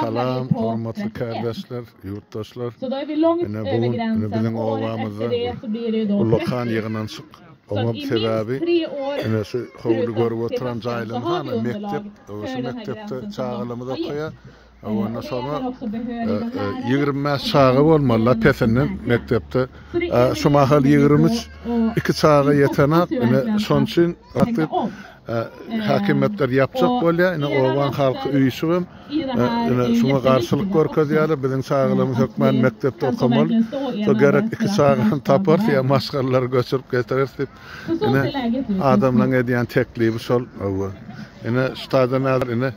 Salam, hormatly kärdeşler, ýurtdaşlar! Ine, bu gün ine biziň obamyzda ullakan ýygnanyşyk. Oňam sebäbi, ine şu howly görüp oturan jaýlaryň hany mekdep. Şu mekdepde çagalarymyz okaýar. Onda şoňa ýigrimi bäş çaga bolmaly lapesinden mekdepde. Şu mahal ýigrimi üç, iki çaga ýetenak. Ine, şonuň üçin häkimiýetler ýapjak bolýar. Ine obaň halky üýşüp hem ine şuňa garşylyk görkezýärler. Biziň çagalarymyz hökman mekdepde okamaly. Şo gerek iki çagany taparys ýa maşgalalary göçürip getireris diýip, ine adamlaryň edýän teklibi şol. Hawa. Ine şu taýdan häzir ine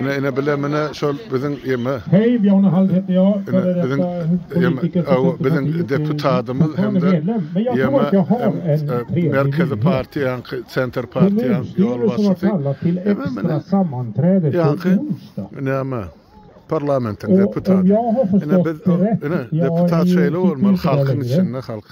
Ine ine bile mine şol biziň ýeme. Heý ýone hal hep ýo şol biziň ýeme biziň deputadymyz hem-de ýeme merkezi partiýaň senter partiýaň ýolbaşçysy. Ýaňky näme parlamentiň deputaty. Ine biz ine deputat şeýle bolmaly halkyň içinde halk.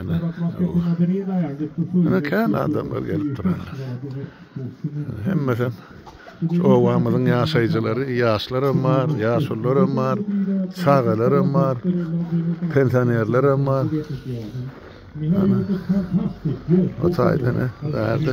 Ene, ene kän adamlar gelip durýar. Hemmesem şu obamyzyň ýaşaýjylary, ýaşlar hem bar, ýaşulylar hem bar, çagalar hem bar, pensionerler hem bar. Ene, o taýdan, ene, bärde.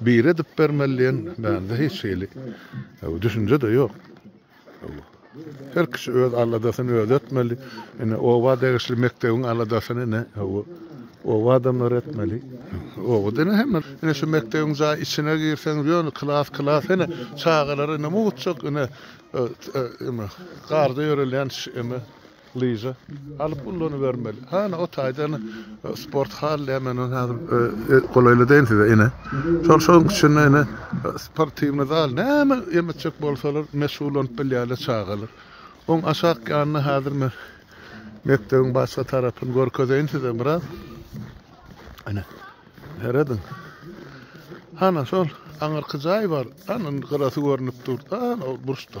Biri edip bermeli diýen mende hiç hili düşünje-de ýok. Her kişi öz aladasyny özi etmeli. Ine, oba degişli mekdebiň aladasyny ine, oba adamlary etmeli. Obada ine hemme, ine şu mekdebiň jaý içine girseňiz, ýöne klas, klas, ine çagalar ine mugt çyk, ine garda ýörelýän, ine, Lyža alyp ullanybermeli. Hany o taýdan sport hal diýen men ony häzir golaýlaýyn size ine. Şol şoň içinde ine sportiwnyý zal näme em etjek bolsalar meşgullanyp bilýärler çagalar. Oň aşak ýanynda häzir men mekdebiň başga tarapyny görkezeýin size biraz. Ine. Serediň. Hany şol aňyrky jaý bar. Hany indi gyrasy görnüp dur. Hany o burçda.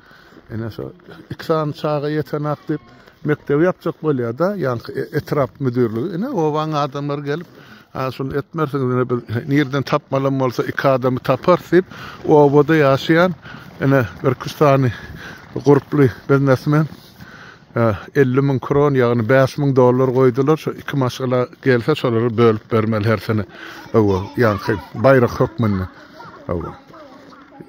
Ine şo iki sany çaga ýetenak diýip, mekdebi ýapjak bolýar-da, ýaňky e, etrap müdirligi. Ine obaň adamlary gelip, Ha şuny etmersiňiz ine biz nirden tapmalam bolsa iki adamy tapar diýip obada ýaşaýan ine bir küstany gurply biznesmen 50 müň kron ýagny 5 müň dollar goýdular şu iki maşgala gelse şolary bölüp bermeli her sene. Owa ýaňky baýrak hökmünde. Owa.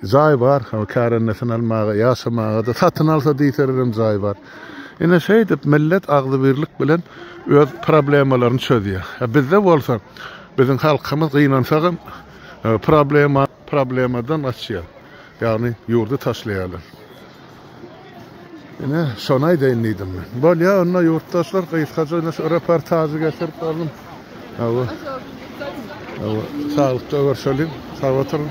Jaý bar, o kärendesin almaga, ýaşamaga-da, satyn alsa diýselerem jaý bar. Ine şeýdip millet agzybirlik bilen öz problemalaryny çözýär. He bizde bolsa biziň halkymyz gynansagam problema problemadan gaçýar. Ýagny ýurdy taşlaýarlar. Ine, şony aýdaýyn diýdim men. Bolýa, onda ýurtdaşlar gysgaça ine şu reportažy getirip berdin. Hawa. Hawa, saglykda görşeliň. Sag oturyň.